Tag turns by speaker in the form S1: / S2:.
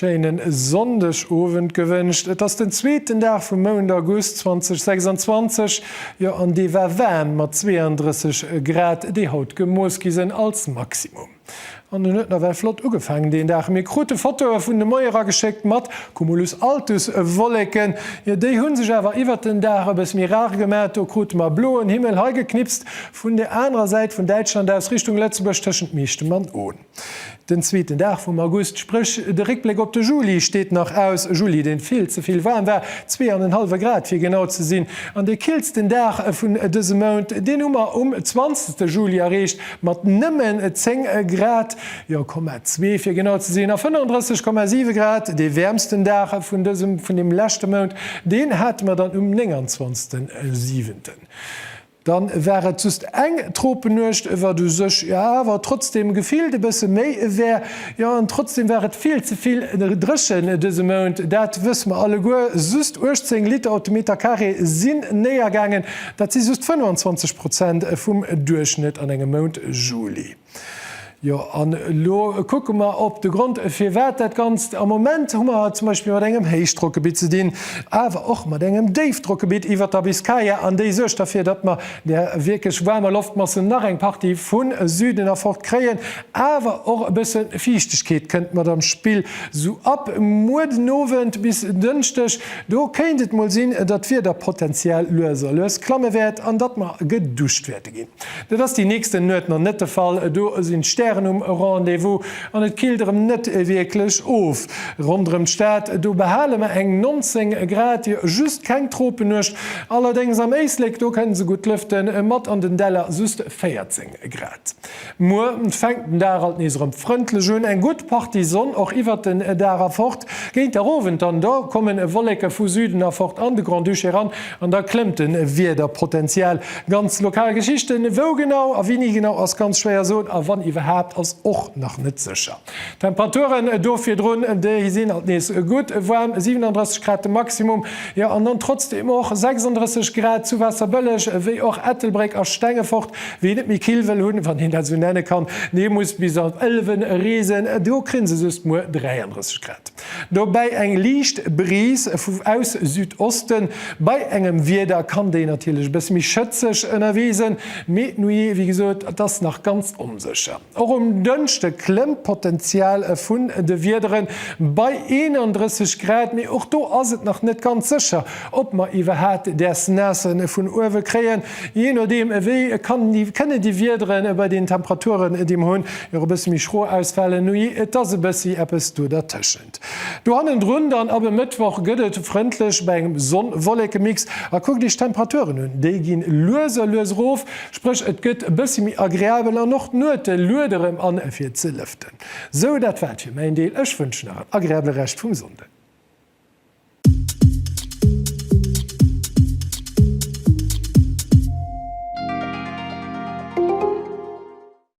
S1: Schéinen Sonndeg Owend gewënscht. Et ass den zweeten Dag vum Mount August 2026, jo an dee war waarm mat 32 Grad déi haut gemooss gi sinn als Maximum. An en huet nawell flott ugefaangen deen Dag. Mir krute Fotoe vun de Moiere geschéckt mat Cumulus altus Wolleken. Jo, déi hu sech awer iwwert den Dag e bëss méi rar gemaach. Do krute mer bloen Himmel, hei geknipst vun der anerer Säit vun Däitschland aus, Richtung Lëtzebuerg, tëschent Meechtem an Ohn. Den zweeten Dag vum August, spréch de Réckbléck op de Juli, steet nach aus. E Juli, deen vill ze vill waarm war, zwee an en hallwe Grad fir genau ze sinn. An dee killsten Dag vun dësem Mount, deen hu mer um 20 Juli erreecht. mat nëmmen 10 Grad, jo, Komma zwee fir genau ze sinn, a 35,7 Grad, dee wäermsten Dag vun dësem, vun deem leschte Mount, deen hate mer dann um 29. Siwenten. Dann war et just eng Tropennuecht, wat u sech jo awer trotzdem gefillt e bësse méi war, jo, an trotzdem war et vill ze vill dréchen dëse Mount, dat wësse mer alleguer, just 18 Liter op de Meterkaree sinn néiergaangen, Dat si just 25 Prozent vum Duerchschnëtt an engem Mount Juli. Jo, an elo kucke mer op de Grond, firwat dat Ganzt. Am Moment hu mer zum Beispill mat engem Héichdrockgebitt ze dinn, awer och mat engem Déifdrockgebitt iwwert der Biskaya, an déi suergt derfir, datt mer där wierklech waarmer Loftmassen nach eng Partie vu Süden erfort kréien. Awer och e bësse Fiichtegkeet kënnt mat an d'Spill, sou ab muer den Owend bis en Dënschdeg. Do kéint et mol sinn, datt d'Wieder potenziell lues a lues klamme wäert an datt mer geduscht wäerte ginn. Dat ass déi nächsten Nuet nach net de Fall, do sinn d'Stären um Rendez-vous an et killt erëm net wierklech of. Ronderëm d'Stad, do behale mer eng 19 Grad, jo just keng Tropennuecht. Allerdéngs am Éislek, do kënne se gutt lëften, mat an den Däller just 14 Grad. Muer fänkt den Dag alt nees erëm frëndlech un, eng gutt Partie Sonn och iwwert den Dag a fort. Géint der Owend dann do kommen Wolleke vu Süden a fort an de Grand-Duché eran an da klëmmt de Wiederpotential. Ganz lokal Geschichten, wou genau a wéini genau ass ganz schwéier soen a wann iwwerhaapt ass och nach net sécher. D'Temperaturen do virdrun, déi sinn alt nees gutt waarm, 37 Grad de Maximum, jo an dann trotzdeem och 36 Grad zu Waasserbëlleg wéi och Ettelbréck a Stengefort. Wien et méi kill wëll hunn, wann een dat esou nenne kann, dee muss bis an d'Ëlwen reesen, do kréien se just muer 33 Grad. Dobäi eng liicht Brise vu aus Südosten, bei engem Wieder kann déi natierlech e bësse méi schëtzeg ënnerwee sinn, mee d'Nuit, wéi gesot, dat ass nach ganz onsécher. Och um Dënschde klëmmt d'Potenzial vun de Wiederen bei 31 Grad, mee och do ass et nach net ganz sécher, ob mer iwwerhaapt däers Naasse vun uewe kréien. Jee nodeem wéi kënne déi Wiedere bei deenen Temperaturen, déi mer hunn, jo och e bësse méi schro ausfalen, oujee et ass e bëssi eppes do dertëschent. Do hannendrun dann ab e Mëttwoch gëtt et frëndlech bei engem Sonn-Wollekemix. A kuckt Iech d'Temperaturen un, déi ginn lues a lues erof, spréch et gëtt e bëssi méi agreabel an och d'Nuete luede rem an fir ze lëften. Sou dat war et fir mäin Deel, ech wënschen nach en agreabele Rescht vum Sonnden.